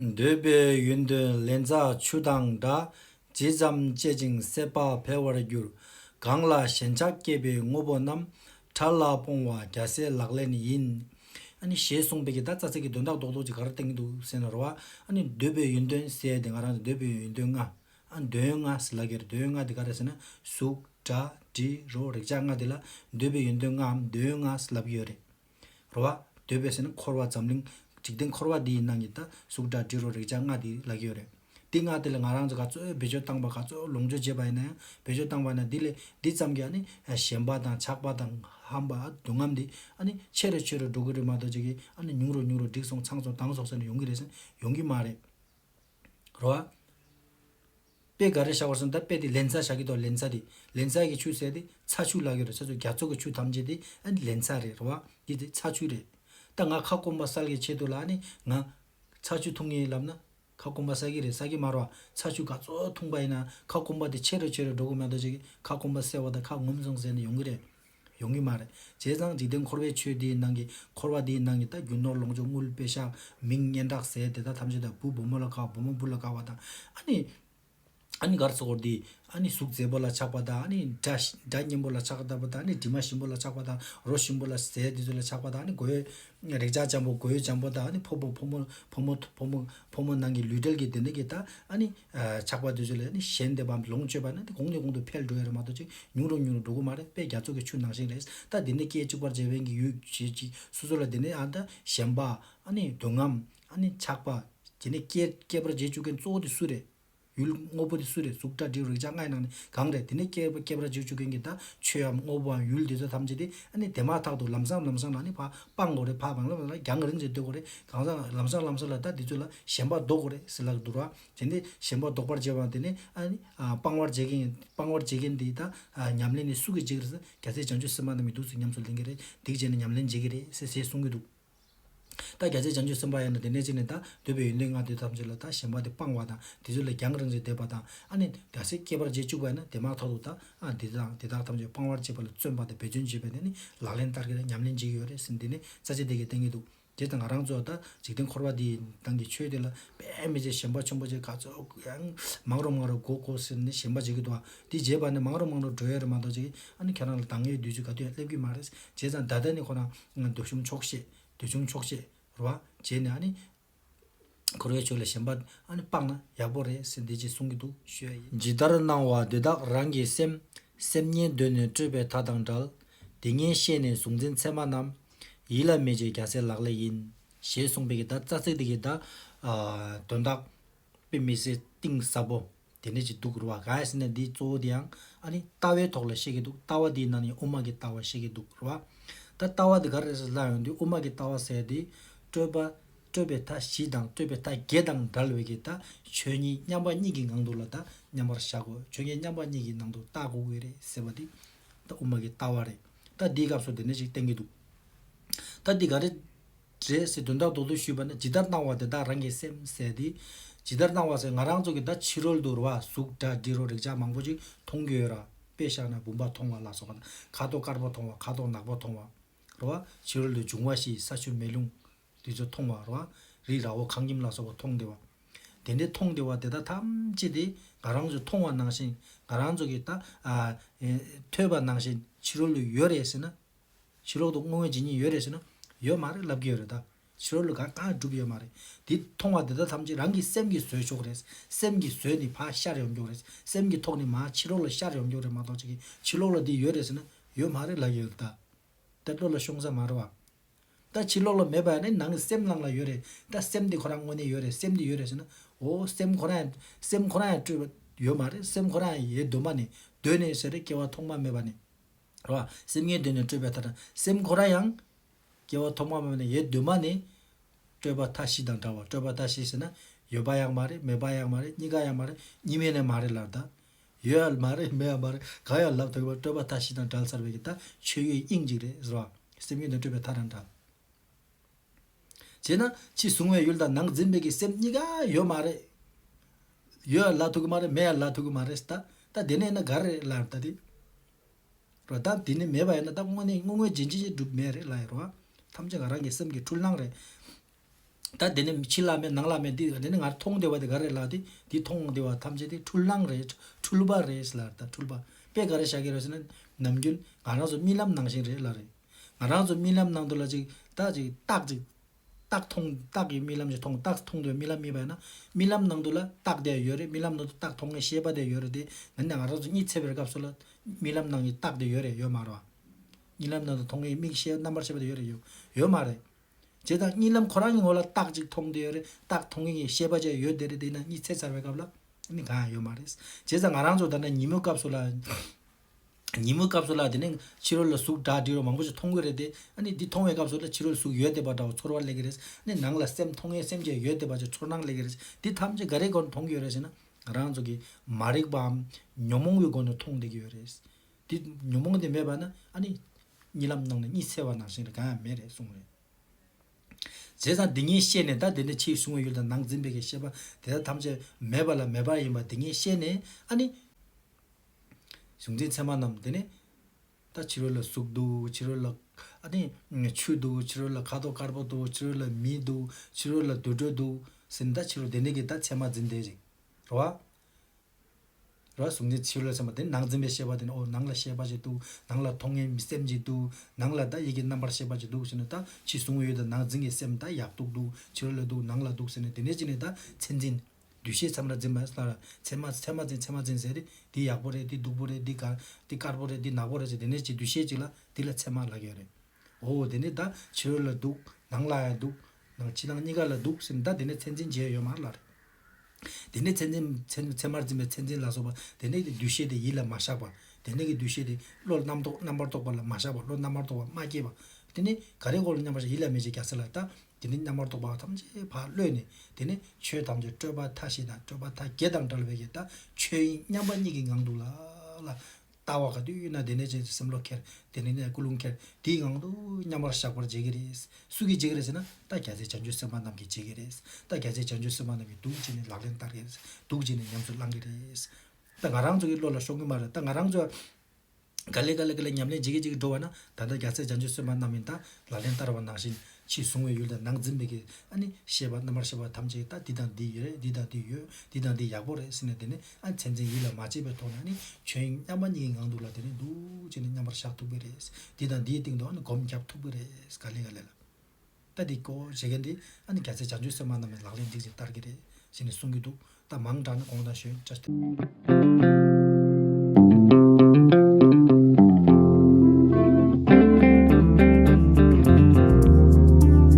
འདོད་པའི་ཡུན་དུ་ལན་ཚྭ་ཆུ་དང་འདྲ། ཇི་ཙམ་སྤྱད་ཅིང་སྲེད་པ་འཕེལ་བར་འགྱུར། གང་ལ་ཞེན་ཆགས་སྐྱེས་པའི་དངོས་པོ་རྣམས། ཕྲ་ལ་སྤོང་བ་རྒྱ་སེ་ལག་ལེན་ཡིན། ཨཱ་ཞེས་གསུངས་པའི་གིས་ད་རྩ་ཚིག་གི་དོན་དག་རྡོག་རྡོག་ཅིག་ག་རེ་བསྟན་གྱི་འདུག་ཟེར་ན་རོ། ཨཱ་ནི་འདོད་པའི་ཡུན་དོན་གསལ་དེ་ང་རང་གི་འདོད་པའི་ཡུན་དོན་ལྔ། ཨཱ་དོན་ལྔ་ཟེར་ལགས་ཀྱི་དོན་ལྔ་དེ་ག་རེ་ཟེར་ན་གཟུགས། སྒྲ། དྲི། རོ། རེག་བྱ་ལྔ་དེ་ལ་འདོད་པའི་ཡུན་དོན་ལྔའམ་དོན་ལྔ་ཟེར་ལབ་ཀྱི་ཡོད་རེད། རོ་བ། འདོད་པའི་ཟས་ནི་འཁོར་བ་འཛམ་གླིང། འཇིག་རྟེན་འཁོར་བ་འདི་ཡི་ནང་གི་ད་གཟུགས་སྒྲ་དྲི་རོ་རེག་བྱ་ལྔ་དེ་ལག་གི་ཡོད་རེད། འདི་ལྔ་དེ་ལས་ང་རང་ཚོ་ག་ཚོད་བེད་སྤྱོད་བཏང་བ་ག་ཚོད་ལོངས་སྤྱོད་བྱས་པ་ཡིན་ན་ཡང་བེད་སྤྱོད་བཏང་བ་ན་འདི་ལས་འདི་ཙམ་གྱིས་ཨ་ནི་ཞེན་པ་དང་ཆགས་པ་དང་ཧམ་པ་སྡུག་བསྔལ་འདི་ཨ་ནི་ཆེ་རུ་ཆེ་རུ་འགྲོ་གི་རེད་མ་གཏོགས་ཅི་གིས་ཨ་ནི་ཉུང་རུ་ཉུང་རུ་འགྲིག་སོང་ཚང་སོང་དྭངས་སོང་ཟེར་ནས་ཡོང་གི་རེད་ཟེར་ན་ཡོང་གི་མ་རེད། རོ་བ། དཔེ་འགའ་རེ་བཞག་པར་སོང་ད་དཔེ་དེ་ལན་ཚྭ་བཞག་གི་དོ་ལན་ཚྭ་དེ་ལན་ཚྭ་གི་ཆུ་བསྲེས་ཏེ་ཚྭ་ཆུ་བླག་ཡོད་རེད་ཚ་ཚུལ་རྒྱ་མཚོ་གི་ཆུ་ཐམས་ཅད་དེ་ཨ་ནི་ལན་ཚྭ་རེད་ར་བ་འདི་དེ་ཚྭ་ཆུ་རེད། ད་ང་ཁ་སྐོམ་པ་བསལ་གི་ཆེད་དུ་ལ་ཨ་ནི་ང། ཚྭ་ཆུ་འཐུང་ངེས་ལབ་ན། ཁ་སྐོམ་པ་བསལ་གི་རེད་བསལ་གི་མ་ར་བ་ཚྭ་ཆུ་ག་ཚོད་འཐུང་པ་ཡིན་ན་ཁ་སྐོམ་པ་དེ་ཆེ་རུ་ཆེ་རུ་འགྲོ་གི་མ་གཏོགས་ཅི་གི་ཁ་སྐོམ་པ་བསལ་བ་དང་ཁ་ངོམ་སོང་ཟེར་ནས་ཡོང་གི་རེད། ཡོང་གི་མ་རེད། བྱས་ཙང་འཇིག་རྟེན་འཁོར་བའི་ཆོས་དེའི་ནང་གི་འཁོར་བ་འདིའི་ནང་གི་ད་རྒྱུ་ནོར་ལོངས་སྤྱོད་དངུལ་དཔེ་ཤ་མིང་སྙན་གྲགས་ཟས་དེ་དག་ཐམས་ཅད་ད་བུ་བུ་མོ་ལ་དགའ་བ་བུ་མོ་བུ་ལ་དགའ་བ་དང། ཨ་ནི། ཨ་ནི་གར་ཚོགས་འཁོར་འདི། ཨ་ནི་གཟུགས་མཛེས་པོ་ལ་ཆགས་པ་དང་ཨ་ནི་དགྲ། སྙན་པོ་ལ་ཆགས་པ་དང་ཨ་ནི་དྲི་མ་ཞིམ་པོ་ལ་ཆགས་པ་དང་རོ་ཞིམ་པོ་ལ་ཟས་འདི་ཚོ་ལ་ཆགས་པ་དང་ཨ་ནི་དགོད། རེག་བྱ་ལྕམ་པོ་གོས་ལྕམ་པོ་དག་ནི་ཕོ་བོ་ཕོ་མོ་ཕོ་མོ་ཕོ་མོ་ཕོ་མོ་ནང་གི་ལུས་དྲལ་གྱི་དེ་འདྲ་གྱི་དག་ཨ་ནི། ཆགས་པ་དེ་ཚོ་ལས་ནི་གཞན་འདས་པ་ལོངས་སྤྱོད་པ་ན་དེ་གོང་ནས་གོང་དུ་འཕེལ་འགྲོ་ཡ་རེད་མ་གཏོགས་ཅིག་ཉུང་རུ་ཉུང་རུ་འགྲོ་གི་མ་རེད་དཔེ་རྒྱ་མཚོ་གི་ཆུ་ནང་བཞིན་རེད་ད་དེ་ནས་སྐད་ཅིག་པར་འཇལ་བན་གྱི་ཡུལ་བྱེད་ཅིག་སོ་སོ་ལ་དེ་ནས་ཨ་ད་ཞེན་པ་ཨ་ནི་དུང་ངམ་ཨ་ནི་ཆགས་པ་དེ་ནས་སྐད་པར་འཇལ་བཅུག་མཁན་གཙོ་བོ་དེ་སུ་རེད། ཡུལ། དངོས་པོ་དེ་སུ་རེད་གཟུགས་སྒྲ་དྲི་རོ་རེག་བྱ་ལྔའི་ནང་ནས་གང་རེད་དེ་ནས་སྐྱེས་པ་སྐྱེས་པར་བྱེད་བཅུག་མཁན་གྱི་ད་ཆོས་འམ་དངོས་པོའམ་ཡུལ་འདི་ཚོ་ཐམས་ཅད་དེ་ཨ་ནི་དེ་མ་ཐག་ཏུ་ལམ་སང་ལམ་སང་ལ་ནི་བག་སྤང་དགོས་རེད་བག་སྤང་ལམ་སང་ལ་རྒྱང་རིང་ཙམ་སྡོད་དགོས་རེད་གང་ཟག་ལམ་སང་ལམ་སང་ལ་ད་འདི་ཚོ་ལ་ཞེན་པ་ཟློག་དགོས་རེད་ཟེར་ལགས་འདུག་ར། དེ་འདི་ཞེན་པ་ཟློག་པར་བྱེད་པའམ་དེ་ནི་ཨ་ནི་སྤང་བར་བྱེད་མཁན་སྤང་བར་བྱེད་མཁན་དེ་ད་ཉམས་ལེན་ནི་སུ་གིས་བྱེད་ཀྱི་རེད་ས་རྒྱ་ཚད་བྱང་ཆུབ་སེམས་དཔའ་ནི་མི་འདུག་ཟེར་ཉམས་སུ་ལེན་གྱི་རེད་སྡིག་བྱས་ནས་ཉམས་ལེན་བྱེད་ཀྱི་རེད་ཟེར་ཟེར་གསུང་གི་འདུག། བརྒྱ་བྱེད་བྱང་ཆུབ་སེམས་དཔའ་ཡང་དང་དེ་ནས་ཕྱི་ནས་དང་འདོད་པའི་ཡོན་ཏན་ལྔ་དེ་ཐམས་ཅད་ལ་དང་གཞན་པ་དེ་སྤང་བ་དང་དེ་ཚུལ་ལ་རྒྱང་རིང་རེ་འདེབས་པ་དང་ཨ་ནི་རྒྱ་སེ་སྐྱེས་པར་རྗེས་བཅུག་པ་ན་དེ་མ་ཐག་ཏུ་དང་ཨ་དེ་དང་དེ་དག་ཐམས་ཅད་སྤང་བར་བྱེད་པ་ལ་བརྩོན་པ་དང་འབད་བརྩོན་བྱེད་པས་ན་ནི་ལག་ལེན་ལྟར་གྱི་ལ་ཉམས་ལེན་བྱེད་ཀྱི་ཡོད་རེད་ཟེར་འདི་ནས་རྩ་ཆེ་དེ་གས་བསྟན་གྱི་འདུག་དེ་དང་ང་རང་ཚོ་ད་འཇིག་རྟེན་འཁོར་བ་འདི་དང་གི་ཆོས་དེ་ལ་དཔེ་མི་བྱེད་ཞེན་པ་ཆེན་པོ་བྱེད་ག་ཚོད་ཡང་མང་རུང་མང་རུང་གོ་གོ་ཟེར་ནས་ཞེན་པ་བྱེད་ཀྱི་འདུག་འདི་བྱེད་པ་ནི་མང་རུང་མང་རུང་བྲོ་ཡོད་རེད་མ་གཏོགས་ཅི་གི་ཨ་ནི་ཁྱེད་རང་ལ་དང་ངའི་བདུད་བཅུ་ག་དུས་ཡང་སླེབས་ཀྱི་མ་རེད་བྱས་ཙང་ད་ལྟ་ནི་ཁོ་རང་ལྔ། འདོད་གཞུང་ཆོག་ཤེས། འདོད་ཆུང་ཆོག་ཤེས། རུ་བ། བྱས་ནས་ཨ་ནི། འཁོར་བའི་ཆོས་ལ་ཞེན་པ། ཨ་ནི་སྤངས་ན་ཡག་པོ་རེད་ཟེར་འདི་ཅིག་གསུང་གི་འདུག་ཤོད། ཇི་ལྟར་སྣང་བ་དེ་དག་རང་གི་སེམས། སེམས་ཉན་གདོད་ནས་སྤྲོས་པའི་མཐའ་དང་འདྲལ། དེ་ངས་ཤེས་ནས་གཟུང་འཛིན་མཚན་མ་རྣམས། ཡིད་ལ་མེད་ཅེས་རྒྱ་སེ་ལག་ལས་ཡིན། ཞེས་གསུངས་པའི་གི་ད་རྩ་ཚིག་འདི་གི་ད། དོན་དག། དཔེ་མི་སྲིད་གཏིང་ཟབ་བོ། དེ་འདྲ་ཅིག་འདུག་རུ་བ་གཱ་ཡཱ་སི་ནད་འདིའི་གཙོ་བོ་དེའང་ཨ་ནི་ལྟ་བའི་ཐོག་ལ་བཤད་ཀྱི་འདུག་ལྟ་བ་དེའི་ནང་ནས་དབུ་མ་གི་ལྟ་བ་བཤད་ཀྱི་འདུག་རུ་བ། ད་ལྟ་བ་དེ་ག་རེ་རེ་ལ་ཡོང་དུས་དབུ་མ་གི་ལྟ་བ་ཟེར་དེ། སྤྲོས་པ། སྤྲོས་པའི་མཐའ་བཞི་དང་སྤྲོས་པའི་མཐའ་བརྒྱད་དང་འགལ་བའི་གི་ད་ཆོས་ཉིད་མཉམ་པ་གཉིས་ཀྱི་ངང་དུ་ལ་ད་མཉམ་པར་བཞག་གོ་ཆོས་ཉིད་མཉམ་པ་གཉིས་ཀྱི་ནང་དུ་ལྟ་གོ་གི་རེད་ཟེར་བ་དེ། ད་དབུ་མ་གི་ལྟ་བ་རེད། ད་འདིའི་སྐབས་སུ་དེ་འདྲ་ཅིག་བསྟན་གྱི་འདུག་ད་འདི་ག་རེ། རེད་ཟེར་དོན་དག་རྡོག་རྡོག་ཞུས་པ་ནི་ཇི་ལྟར་སྣང་བ་དེ་དག་རང་གི་སེམས་ཟད་དེ། ཇི་ལྟར་སྣང་བ་ཟེར་ང་རང་ཚོ་གི་ད་ཕྱི་རོལ་དུ་རུ་བ་གཟུགས་སྒྲ་དྲི་རོ་རེག་བྱ་མང་པོ་ཅིག་མཐོང་རྒྱུ་ཡོད་ར་དཔེ་བཞག་ན་བུམ་པ་མཐོང་བ་ལ་སོགས་པ་དང་ཁ་དོག་དཀར་པོ་མཐོང་བ་ཁ་དོག་ནག་པོ་མཐོང་བ་རུ་བ་ཕྱི་རོལ་དུ་འབྱུང་བ་བཞི་ས་ཆུ་མེ་རླུང་དེ་ཚོ་མཐོང་བ་རུ་བ་རི་ར་འོ་ཁང་ཁྱིམ་ལ་སོགས་པ་མཐོང་བདེ་བ། དེ་འདྲའི་མཐོང་བདེ་བ་དེ་དག་ཐམས་ཅད་དེ་ང་རང་ཚོའི་མཐོང་བ་ནང་བཞིན་ང་རང་ཚོ་གི་ད། ཐོས་པ་ནང་བཞིན་ཕྱི་རོལ་དུ་ཡོད་རེད་ཟེར་ན་ཕྱི་ལོག་ཏུ་བསྔོ་བའི་བྱེད་ཉིན་ཡོད་རེད་ཟེར་ན། ཡོད་མ་རེད་ལབ་ཀྱི་ཡོད་རེད་ད། ཕྱི་རོལ་ལུགས་གང་ཡང་གྲུབ་ཡོད་མ་རེད། དེ་མཐོང་བ་དེ་དག་ཐམས་ཅད་རང་གི་སེམས་ཀྱིས་བཟོས་ཆོག་རེད། སེམས་ཀྱིས་བཟོས་ནི་ཕ་ཤར་ཡོང་རྒྱུ་རེད། སེམས་ཀྱི་ཐོག་ནས་མ་ཕྱི་ལོག་ལ་ཤར་ཡོང་རྒྱུ་རེད་མ་གཏོགས་ཅི་གི་ཕྱི་ལོག་ལ་འདི་ཡོད་རེད་ཟེར་ན། ཡོད་མ་རེད་ལབ་ཀྱི་ཡོད་རེད་ད། ད་བློ་ལ་ཤོང་ས་མ་རེད་བ། ད་ཕྱི་ལོག་ལ་མེད་པ་ཡང་ནི་ནང་གི་སེམས་ནང་ལ་ཡོད་རེད་ད་སེམས་དེ་ཁོ་རང་དངོས་གནས་ཡོད་རེད་སེམས་དེ་ཡོད་རེད་ཟེར་ན། འོ་སེམས་ཁོ་རང་ཡང་སེམས་ཁོ་རང་ཡང་སྤྲོས་པ་ཡོད་མ་རེད་སེམས་ཁོ་རང་ཡང་ཡའི་གདོད་མ་ནས་གདོད་ནས་ཟེར་རེད་སྐྱེ་བ་ཐོག་མ་མེད་པ་ནས། རོ། སེམས་ངན་དུས་ནས་སྤྲོས་པའི་མཐའ་དང་སེམས་འཁོར་ར་ཡང། སྐྱེ་བ་ཐོག་མ་མ་ནས་ཡེ་གདོད་མ་ནས། སྤྲོས་པ་མཐའ་བཞི་དང་འདྲ་བ་སྤྲོས་པ་མཐའ་བཞི་ཟེར་ན། ཡོད་པ་ཡང་མ་རེད་མེད་པ་ཡང་མ་རེད་གཉིས་ཀ་ཡང་མ་རེད་གཉིས་མེད་ནས་མ་རེད་ལར་ལྟ། ཡོད་ཡང་མ་རེད་མེད་ཡང་མ་རེད་གང་ཡང་ལབ་ཐུབ་མེད་པ་སྤྲོས་པ་མཐའ་བཞི་དང་འདྲ་ལ་སར་བས་ཀྱི་ལྟ་ཆོས་ཡོད་དབྱིངས་གཅིག་རེད་ཟེར་བ། སེམས་ངན་དུས་སྤྲོས་པའི་མཐའ་དང་འདྲ། བྱས་ན། ཕྱི་གཟུང་བའི་ཡུལ་དང་ནང་འཛིན་བས་ཀྱི་སེམས་གཉིས་ཀ་ཡོད་མ་རེད། ཡོད་ཡང་ལ་ཐུབ་ཀྱི་མ་རེད་མེད་ཡང་ལ་ཐུབ་ཀྱི་མ་རེད་ལྟ། ད་དེ་ནས་ན་ག་རེ་རེད་ལར་ལྟ་སྟེ། རོ། བདག་འདི་ནི་མེད་པ་ཡིན་ན་བདག་དངོས་ནི་དངོས་དངོས་རྗེན་རྗེན་གྲུབ་མེད་རེད་ལ་ཡི་རོ། ཐམས་ཅད་ང་རང་གི་སེམས་ཀྱི་འཁྲུལ་སྣང་རེད། བདག་འདི་ནི་ཕྱི་ལ་མེད་ནང་ལ་མེད་འདི་འདི་ནི་ང་རང་མཐོང་བདེ་བ་དེ་ག་རེ་ལགས་ཏེ་འདི་མཐོང་བདེ་བ་ཐམས་ཅད་དེ་འཁྲུལ་སྣང་རེད་འཁྲུལ་པ་རེད་ལ་དྭ་འཁྲུལ་པ་དཔེ་ག་རེ་བཞག་གི་རེད་ཟེར་ན་ནམ་རྒྱུན་ང་རང་ཚོ་རྨི་ལམ་ནང་བཞིན་རེད་ལ་རེད། ང་རང་ཚོ་རྨི་ལམ་ནང་དུ་ལ་ཅིག་བདག་ཅིག་རྟག་ཅིག། རྟགས་མཐོང། རྟགས་ཀྱི་རྨི་ལམ་གྱི་མཐོང་རྟགས་སུ་མཐོང་དུས་རྨི་ལམ་རྨིས་པ་ཡིན་ན། རྨི་ལམ་ནང་དུ་ལ་རྟགས་དེ་ཡོད་རེད་རྨི་ལམ་ནང་དུ་རྟགས་མཐོང་ངེས་ཤེས་པ་དེ་ཡོད་རེད་དེ་འདི་ནས་ང་རང་ཚོ་གཉིད་ཚེ་བའི་སྐབས་སུ་ལ་རྨི་ལམ་ནང་གི་རྟགས་དེ་ཡོད་རེད་ཡོད་མ་རེད། རྨི་ལམ་ནང་དུ་མཐོང་ངེས་རྨིས་ཤེས་རྣམ་པར་ཤེས་པ་དེ་ཡོད་རེད་ཡོད་མ་རེད། བྱས་ཙང་རྨི་ལམ་ཁོ་རང་གི་ངོ་ལ་རྟགས་གཅིག་མཐོང་དེ་ཡོད་རེད་རྟགས་མཐོང་ངེས་ངེས་ཤེས་པ་བཅས་ཡོད་དེ་རེད་དེ་ཡིན་ན་གཉིད་ཚེ་ཚར་བའི་སྐབས་ལ་རྨི་གང་ཡང་ཡོད་མ་རེད། བྱས་ཙང་ང་རང་ཚོ་ད་ནས་ཉིན་མོའི་སྐབས་སུ་ལ། ཉིན་མོའི་སྐབས་སུ་ལ་དེ་ནས་ཕྱི་རོལ་ལ་གཟུགས་སྒྲ་དྲི་རོ་མང་པོ་ཞིག་མཐོང་གི་རེད་དེ། ཨ་ནི་འདི་མཐོང་བའི་སྐབས་སུ་ལ་ཕྱི་རོལ་གཟུགས་ཡོད་བདེ་བ་འདྲ་བོ་ཚོར་བ་སླེབས་ཀྱི་རེད། ཨ་ནི་ནང་ལ་སེམས་མཐོང་ངེས་སེམས་ཅན་ཡོད་བདེ་བ་ཅིག་ཚོར་སྣང་སླེབས་ཀྱི་རེད། འདི་ཐམས་ཅད་ག་རེའི་སྒོ་ནས་མཐོང་གི་ཡོད་རེད་ཟེར་ན། རང་ཚོ་གི་མ་རིག་པའམ། ཉོན་མོངས་པའི་སྒོ་ནས་མཐོང་བསྡད་ཀྱི་ཡོད་རེད། འདི་ཉོན་མོངས་དེ་མེད་པ་ན་ཨ་ནི། རྨི་ལམ་ནང་ནས་གཉིད་སད་བ་ནང་བཞིན་རེད་གང་ཡང་མེད་རེད་གསུངས་རེད། བྱས་ཙང་འདི་ངས་ཤེས་ནས་ད་དེ་ནས་ཕྱིའི་གཟུང་བའི་ཡུལ་དང་ནང་འཛིན་པའི་གེགས་ཤེས་པ་དེ་དག་ཐམས་ཅད་མེད་པ་ལ་མེད་པ་ཡིན་པ་འདི་ངས་ཤེས་ནས་ཨ་ནི། གཟུགས་འཛིན་མཚན་མ་རྣམས་དེ་ནི། ད་ཕྱི་རོལ་ལ་གཟུགས་འདུག་ཕྱི་རོལ་ལ། ཆུ་འདུག་ཕྱི་རོལ་ལ་ཁ་དོག་དཀར་པོ་འདུག་ཕྱི་རོལ་ལ་མི་འདུག་ཕྱི་རོལ་ལ་དུད་འགྲོ་འདུག་ཟེར་ནས་ད་ཕྱི་རོལ་དེ་འདྲ་གི་ད་མཚན་མ་འཛིན་དེ་རིག་རོ། རོ། གཟུགས་འཛིན་ཕྱི་རོལ་ལ་མཚན་མ་དེ་ནང་འཛིན་པའི་ཤེས་པ་དེ་ནི་ཨོ་ནང་ལ་ཤེས་པ་ཞིག་འདུག་ནང་ལ་མཐོང་ངེས་མི་སེམས་ཅིག་འདུག་ནང་ལ་ད་ཡི་གེ་རྣམ་པར་ཤེས་པ་ཅིག་འདུག་ཟེར་ནས་ད་ཕྱི་གཟུང་ཡོད་དང་ནང་འཛིན་གྱི་སེམས་ད་ཡག་འདུག་འདུག་ཕྱི་རོལ་ལ་འདུག་ནང་ལ་འདུག་ཟེར་ནས་དེ་འདྲ་གྱི་ནི་ད་མཚན་འཛིན། འདུས་བྱས་མཚམས་ར་འཛིན་པ་ལ་ཚད་མ་ཚད་མ་འཛིན་ཚད་མ་འཛིན་ཟེར་རེད་འདི་ཡག་པོ་རེད་འདི་སྡུག་པོ་རེད་འདི་དགའ་འདི་དཀར་པོ་རེད་འདི་ནག་པོ་རེད་ཟེར་དེ་ནས་ཅིག་འདུས་བྱས་ཅིག་ལ་འདི་ལ་ཚད་མ་ལག་ཡོད་རེད། འོ་དེ་ནས་ད་ཕྱིར་ལ་འདུག་ནང་ལ་ཡང་འདུག་ནང་ཕྱི་ནང་གཉིས་ཀ་ལ་འདུག་ཟེར་ནས་ད་དེ་ནས་ཚད་འཛིན་བྱས་ཡོད་མར་ལ་རེད། དེ་ནས་ཚད་འཛིན་ཚད་ཚད་མར་འཛིན་པའི་ཚད་འཛིན་ལ་སོགས་པ་དེ་ནས་ཀྱི་འདུས་བྱས་དེ་ཡིད་ལ་མ་བཞག་པ་དེ་ནས་ཀྱི་འདུས་བྱས་དེ་བློ་ལ་རྣམ་རྟོག་རྣམ་པར་རྟོག་པ་ལ་མ་བཞག་པ་བློ་རྣམ་པར་རྟོག་པ་མ་སྐྱེས་པ་དེ་ནས་ག་རེ་གོ་ལ་མཉམ་པར་ཡིད་ལ་མི་བྱེད་རྒྱ་ཚད་ལ་ད་དེ་ནི་རྣམ་པར་རྟོག་པ་ཐམས་ཅད་བག་བློས་ནི་དེ་ནི་ཆོས་ཐམས་ཅད་སྤྲོས་པ་མཐའ་བཞི་དང་སྤྲོས་པ་མཐའ་བརྒྱད་དང་བྲལ་བའི་ཡེ་དག་ཆོས་དབྱིངས་མཉམ་པ་ཉིད་ཀྱི་ངང་དུ་ལ་ལ། ལྟ་བ་ག་དུས་ཡོད་ན་དེ་ནས་ཅན་གྱི་སེམས་བློ་ཁྱེར་དེ་ནས་ནས་སྐུ་རླུང་ཁྱེར་དེའི་ངང་དུ་མཉམ་པར་བཞག་པར་བྱེད་ཀྱི་རེད། སུ་གིས་བྱེད་ཀྱི་རེད་ཟེར་ན་ད་རྒྱ་ཚའི་བྱང་ཆུབ་སེམས་དཔའ་རྣམས་ཀྱིས་བྱེད་ཀྱི་རེད། ད་རྒྱ་ཚའི་བྱང་ཆུབ་སེམས་དཔའ་རྣམས་ཀྱིས་འདུག་ཅེས་ནས་ལག་ལེན་བསྟར་གྱི་རེད་འདུག་ཅེས་ནས་ཉམས་སུ་བླང་གི་རེད། ད་ང་རང་ཚོ་གིས་བློ་ལ་ཤོང་གི་མ་རེད་ད་ང་རང་ཚོ། ག་ལེ་ག་ལེ་ག་ལེ་ཉམས་ལེན་ཇི་གེ་ཇི་གེ་འགྲོ་བ་ན་ད་ལྟ་རྒྱ་ཚད་སྦྱང་བྱའི་སྲོལ་མ་རྣམས་ཡིན་ད་ལ་ལན་བསྟར་བ་ནང་བཞིན་ཕྱིས་བཟུང་བའི་ཡུལ་དང་ནང་འཛིན་པའི་གེ་ཨ་ནི་ཤེས་པ་རྣམ་པར་ཤེས་པ་ཐམས་ཅད་ད་འདི་དང་འདི་ཡོད་རེད་འདི་དང་འདི་ཡོད་འདི་དང་འདི་ཡག་པོ་རེད་ཟེར་ནས་དེ་ནི་ཨ་མཚན་མཚན་ཡིད་ལ་མ་བྱེད་པའི་ཐོག་ནས་ཨ་ནི་ཁྱོད་མཉམ་པ་གཉིས་ཀྱི་ངང་འདུག་ལ་དེ་ནི་འདུག་ཅེས་ནས་མཉམ་པར་བཞག་ཐུབ་ཀྱི་རེད་འདི་དང་འདིའི་སྟེང་དུ་ཨ་ནི་གོམ་བརྒྱབ་ཐུབ་ཀྱི་རེད་ག་ལེ་ག་ལེ་ལ། ལྟ་འདི་ཀོ་བྱེད་མཁན་དེ་ཨ་ནི་རྒྱ་ཚའི་བྱང་ཆུ་སེར་མ་རྣམས་ལ་ལག་ལེན་སྒྲིག་ཅིང་བསྟར་གྱི་རེད་ཞེས་ནས་གསུང་གི་འདུག་ད་མང་དྲགས་ན་དགོངས་དག་ཞོན་ཅར་ཐལ།